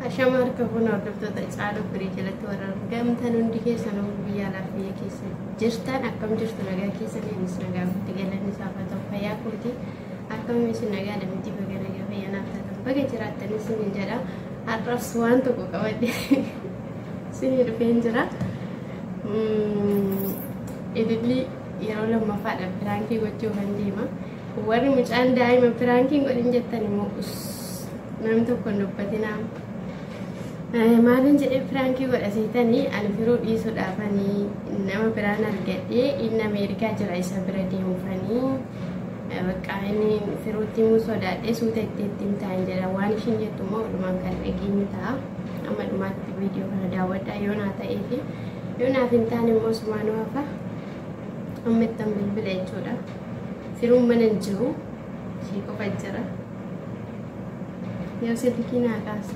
Ashama harka fuuna hordoftoota caaluu firii jalatti warra argamtan hundi keessan biyya alaaf biyya keessa jirtan akkam jirtu nagaa keessan innis nagaa guutti galanni isaa haa ta'u fayyaa kooti. Akkam isin nagaadha miti baga nagaa fayyanaaf taatan baga jiraattan isiniin jedha har'as waan tokko qabadhe isinii dhufeen jira. Ililli yeroo lammaffaadha piraankii gochuu kan deema. Warri mucaan daa'ima piraankiin godhin jettan immoo nam tokko hin dubbatinaa. Maaliin jedhee piraankii godha seetanii ani firuu dhiisuudhaafanii nama biraan argadhee inni Ameerikaa jira isa bira deemuufanii. Bakka inni firuutti immoo sodaadhee suuta itti itti himtaan jedha. Waan ishiin jettu immoo dhumaan kan dhageenyu ta'a. Amma dhumaatti viidiyoo kana daawwadhaa yoo naa ta'ee fi yoo naaf hin taane immoo sumaanuu hafa. Amma ittan bilbila jechuudha. Firuun mana hin jiru. Ishii qofa jira. Yoo silkii naa kaasa.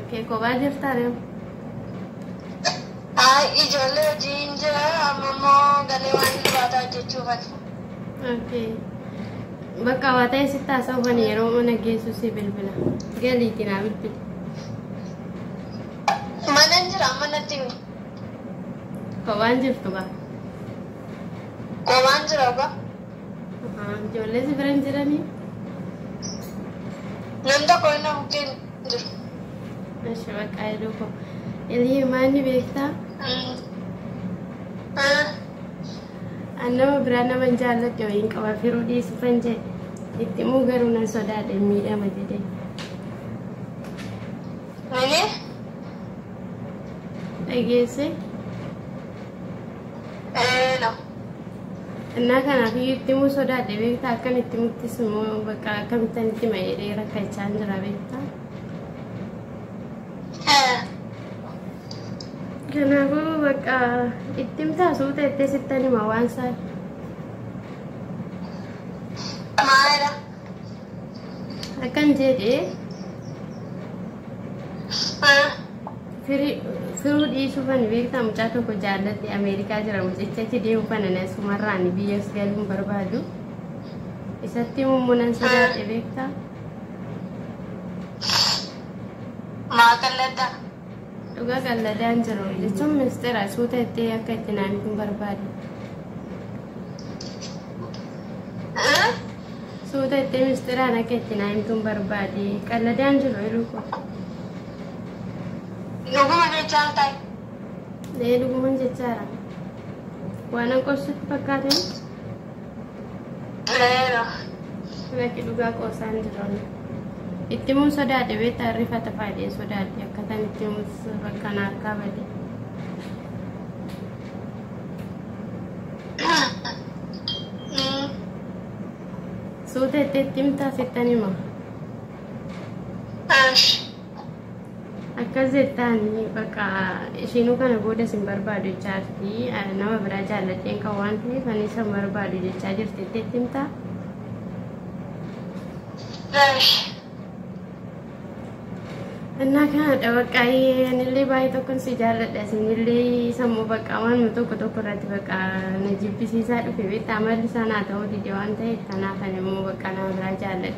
Okay, kophaa jirtaa reew. Ay, ijoollee hojiin jira amma immoo galee waan hirribaataa hojjechuuf ani. Okay. Bakka waa ta'e sitti haasa'uufan yeroo mana geessu si bilbila. Galiitiin haa bilbila. Mana hin jira amma natti himi. Kophaan jirtu gaa. Qobaan jira ogaa. Ijoollee si bira hin jiranii? Namni tokko inni bukkee hin jiru. Ishi baqqaa jedhuu koo. Ilii maal ni beektaa? An nama biraa nama hin jaalladhe wayiin qaba firuu dhiisu kan jee. Itti immoo garuu nan sodaadhe miidhama jedhee. Mini Dhageesse? ee no. Innaa kanaaf iyyuu itti himuu sodaadhe beektaa akkan itti muttis immoo bakka akkamittan itti hima jedhee rakkachaa hin jira beektaa. Kanaafuu bakka itti himtaa suuta itti sittan hima waan isaa. Maala. akkan jedhe firuu dhiisuu fani beektaa mucaa tokko jaalladhe ameerikaa jira mucicha achi deemu fana na sumarraan biyyas galuun barbaadu isatti immoo nan sodaadhe beektaa Maa qalladda? Dhugaa qalladaan jiru jechuun ministeera suuta itti akka itti naan hin barbaadu. Suuta itti ministeeraan akka itti naan hin tun barbaade qalladaan jiru iluu koo. Dhuguma jechaa ta'e. Ee dhuguman jechaara. Waan an qorsutti fakkaate. Tureera. Lakki dhugaa qoosaan hin jirre. Itti himuun sodaadhe beektaa rifata faayidee sodaadhe akkataan itti himus bakka na harkaa bade. Suuta itti itti himtaa sittan hima. Ash. akkas jettaan bakka ishiinuu kana booda sin barbaadu jechaa jirti nama biraa jaalladheen kan waan ta'eef ani isa barbaadu jechaa jirti itti himtaa Eesh. Innaa kanadha bakka anillee baay'ee tokkon si jaalladha isinillee sammuu bakka waan tokko tokko irratti bakka na jibbisiisaa dhufe beektaa amalli isaa naa ta'uu dide waan ta'eef kanaaf ani immoo bakka nama biraa jaalladha.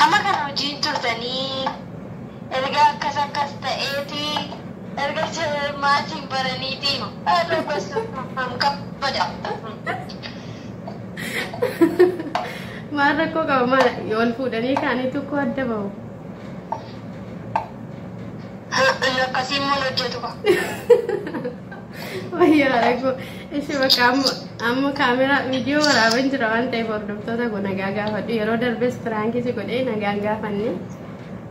Hamma kana hojiin turtanii erga akkas akkas ta'eeti erga maatiin baraniitiin haadhoo gostuun kabaja. Maal rakkoo qaba maal wal fuudhanii kaanii tokko adda bahu. Inni akkasii immoo hin hojjetu. Wayyaara koo ishee bakka amma amma kaameraa viidiyoo waraaban jira waan ta'eef hordoftoota koo nagaa gaafadhu yeroo darbes piraankii si godhee nagaan gaafanne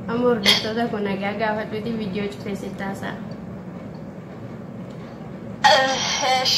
amma hordoftoota koo nagaa gaafadhuti viidiyoo cufee si taasaa. Eesh.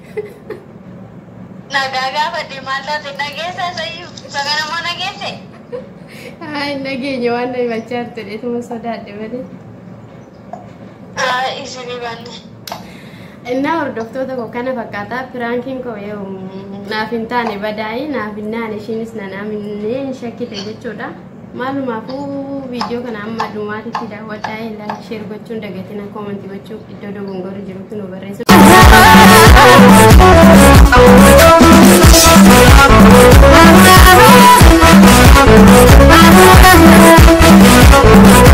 Nagaa gaafadhe maal taate nageessa sayyuu isa kana immoo nageesse. Haa hin dhageenye waan na himachaa jirtu dheetuma sodaadhe malee. Haa isinii banne. Innaa hordoftoota koo kana fakkaata piraankiin koo yoo naaf hin taane badaa'ii naaf hin naane ishiinis nan aminee hin shakkite jechuudha. Maalumaafuu viidiyoo kana amma dhumaatitti daawwadhaa like share gochuun dagatina comment gochuu iddoo dogongorri jirutti nu barreessu. Thank you.